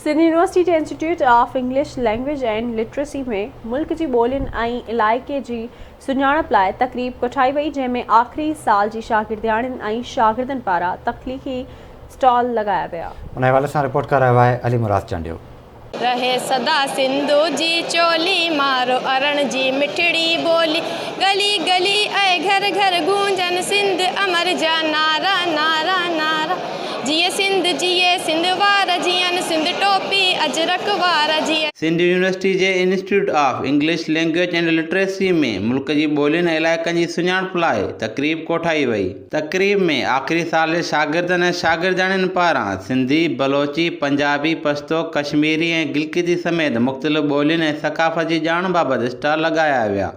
Sindh university جي institute of English language and literacy ۾ ملڪ جي ٻولين ۽ علائقي جي سڃاڻپ لاء تقريب ڪٺائي وئي جنهن ۾ آخري سال جي شاگردياڻين ۽ شاگردن پاران تخليقي اسٽال لڳايا ويا. ان حوالي سان رپورٽ ڪري رهيو آهي علي مراد چانڊيو. رهي سدا سنڌو جي چولي، مارو ارڻ جي مٺڙي ٻولي، ڳلي ڳلي ۽ گهر گهر گونجن سنڌ امر جا نعرا، نعرا، نعرا. جيئي سنڌ جيئي سنڌ وار جيئن سنڌ ٽوپي اجرڪ وار جيئي. سنڌ يونيورسٽي جي institute of English language and literacy ۾ ملڪ جي ٻولين ۽ علائقن جي سڃاڻپ لاء تقريب ڪوٺائي وئي. تقريب ۾ آخري سال جي شاگردن ۽ شاگردياڻين پاران سنڌي، بلوچي، پنجابي، پشتو، ڪشميري ۽ گلگتي سميت مختلف ٻولين ۽ ثقافت جي ڄاڻ بابت اسٽال لڳايا ويا.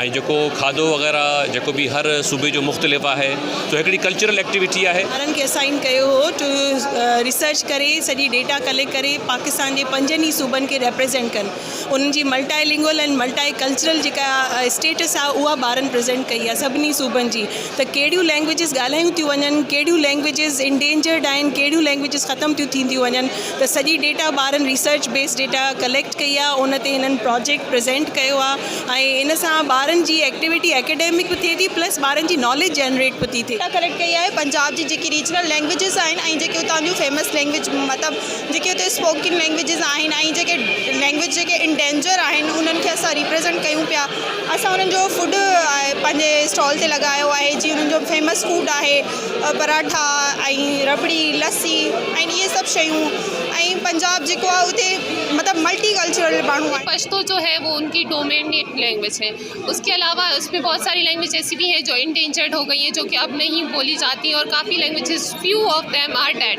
۽ جيڪو کاڌو وغيره جيڪو به هر صوبي جو مختلف آهي سو هڪڙي ڪلچرل ايڪٽيوٽي آهي. ٻارن کي اسائين ڪيو هو ٽو ريسرچ ڪري سڄي ڊيٽا ڪليڪٽ ڪري پاڪستان جي پنجن ئي صوبن کي ريپريزينٽ ڪن انهن جي ملٽائي لنگول ۽ ملٽائي ڪلچرل جيڪا اسٽيٽس آهي اها ٻارن پريزينٽ ڪئي آهي سڀني صوبن جي ته ڪهڙيون لينگويجز ڳالهايون ٿيون وڃن ڪهڙيون لينگويجز انڊينجرڊ آهن ڪهڙيون لينگويجز ختم ٿيون ٿينديون وڃن ته سڄي ڊيٽا ٻارن ريسرچ بيس ڊيٽا ڪليڪٽ ڪئي آهي ان تي هنن پراجيڪٽ پريزينٽ ڪيو آهي ۽ ان سان ٻارن جي ايڪٽيوٽي اڪيڊمڪ به ٿئي ٿي پلس ٻارن جي ناليج جنريٽ به ٿي ٿئي. ڊيٽا ڪليڪٽ ڪئي آهي پنجاب جي جيڪي ريجنل لينگويجز آهن ۽ جيڪي اتان جون فيمس لينگويج مطلب جيڪي اتي اسپوڪن لينگويجز آهن ۽ جيڪي لينگويج جيڪي ان ڊينجر آهن انهن کي اسان ريپريزنٽ ڪيون پيا اسان انهن جو فوڊ پنهنجي اسٽال تي لڳايو آهي جيئن انهن جو فيمس فوڊ آهي پراٺا ۽ ربڙي، لسي ۽ اهي سڀ شيون ۽ پنجاب جيڪو آهي اتي مطلب ملٽي ڪلچرل ماڻهو آهن. پشتو جو هي وو ان ڪي ڊومينيٽ لينگويج هي اس ڪي علاوه اس مي بهت ساري لينگويج ايسي بي هي جو انڊينجرڊ هو گئي هي جو ڪي اب نهي بولي جاتي اور ڪافي languages few of them are dead.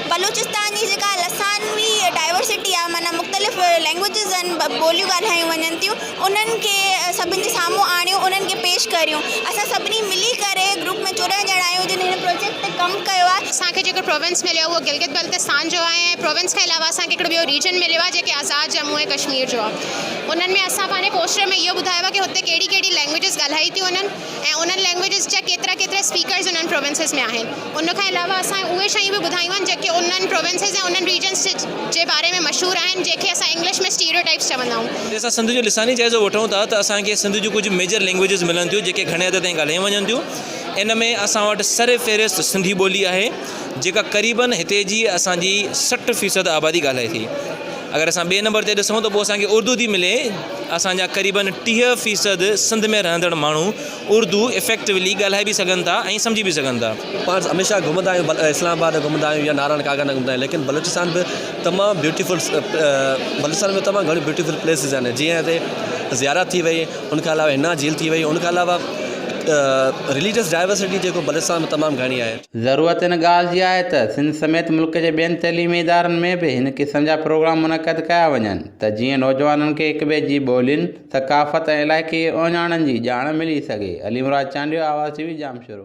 Balochistan جي جيڪا لسانوي ڊائورسٽي آهي معنيٰ مختلف لينگوئجز آهن ٻوليون ڳالهايون وڃن ٿيون انهن کي سڀني جي سامهون آڻيون انهن کي پيش ڪريون اسان سڀني ملي ڪري گروپ ۾ چورنهن ڄڻا آهيون جن هن پروجيڪٽ تي ڪم ڪيو آهي. اسان کي جيڪو پروونس مليو اهو گلگت بلتستان جو آهي ۽ پروونس کان علاوه اسان کي هڪڙو ٻيو ريجن مليو آهي جيڪي آزاد ڄمون ۽ ڪشمير جو آهي انهن ۾ اسان پنهنجي پوسٽر ۾ اهو ٻڌايو آهي ڪي هتي ڪهڙي ڪهڙي لينگوئجز ڳالهائي ٿيون وڃن. ۽ انهن لينگويجز جا ڪيترا ڪيترا اسپيڪرز انهن پروونسز ۾ آهن ان کان علاوه اسان اهي شيون به ٻڌايون آهن جيڪي انهن پروونسز ۽ انهن ريجنز جي باري ۾ مشهور آهن جنهن کي اسان انگلش ۾ اسٽيريوٽائپس چوندا آهيون. جي اسان سنڌ جو لساني جائزو وٺون ٿا ته اسان کي سنڌ جون ڪجهه ميجر لينگويجز ملن ٿيون جيڪي گهڻي حد تائين ڳالهايون وڃن ٿيون ان ۾ اسان وٽ سر فهرست سنڌي ٻولي آهي جيڪا قريبن هتي جي اسان جي سٺ فيصد آبادي ڳالهائي ٿي اگر اسان ٻئي نمبر تي ڏسون ته پوء اسان کي اردو ٿي ملي اسان جا قريبن ٽيهه فيصد سنڌ ۾ رهندڙ ماڻهو اردو افيڪٽولي ڳالهائي به سگهن ٿا ۽ سمجهي به سگهن ٿا. پاڻ هميشه گهمندا آهيون اسلام آباد گهمندا آهيون يا نارائڻ ڪاڳا نه گهمندا آهيون ليڪن بلوچستان به تمام بيوٽيفل بلوچستان ۾ تمام گهڻيون بيوٽيفل پليسز آهن جيئن هتي زيارت ٿي وئي ان کان علاوه هنا جھيل ٿي وئي ان کان علاوه رليجس ڊائورسٽي جيڪو بلوچستان ۾ تمام گهڻي آهي. ضرورت ان ڳالهه جي آهي ته سنڌ سميت ملڪ جي ٻين تعليمي ادارن ۾ به هن قسم جا پروگرام منعقد ڪيا وڃن. ته جيئن نوجوانن کي هڪ ٻئي جي ٻولين، ثقافت ۽ علائقي اهڃاڻن جي ڄاڻ ملي سگهي. علي مراد چانڊيو آواز ٽي وي ڄام شورو.